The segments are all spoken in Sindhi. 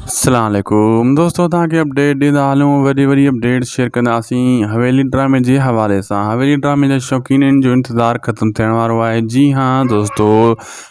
السلام عليڪم دوستو تان کي اپڊيٽ ڏيندا هلون وڏي وڏي اپڊيٽ شيئر ڪنداسين حويلي ڊرامي جي حوالي سان حويلي ڊرامي جا شوقينن جو انتظار ختم ٿيڻ وارو آهي جي هان دوستو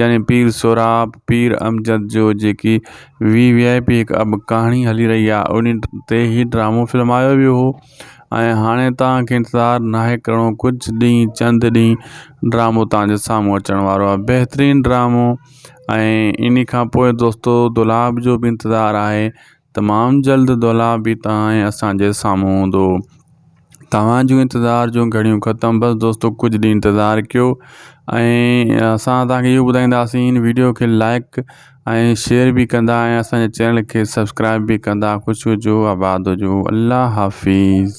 يعني پير سهراب، پير امجد جو جيڪي وي وي آء پي هڪ اب ڪهاڻي هلي رهي آ انهي تي هي ڊرامو فلمايو ويو هو ۽ هاڻي توهان کي انتظار ناهي ڪرڻو ڪجهه ڏينهن چند ڏينهن ڊرامو توهان جي سامهون اچڻ وارو آ بهترين ڊرامو ۽ انهي کان پوء دوستو دولاب جو به انتظار آهي تمام جلد دولا به تهائين اسان جي سامهون هوندو توهان جون انتظار جون گهڙيون ختم بس دوستو ڪجهه ڏينهن انتظار ڪيو ۽ اسان توهان کي اهو ٻڌائينداسين هن ويڊيو کي لائڪ ۽ شيئر به ڪندا ۽ اسان جي چينل کي سبسڪرائب به ڪندا خوش هجو آباد هجو الله حافظ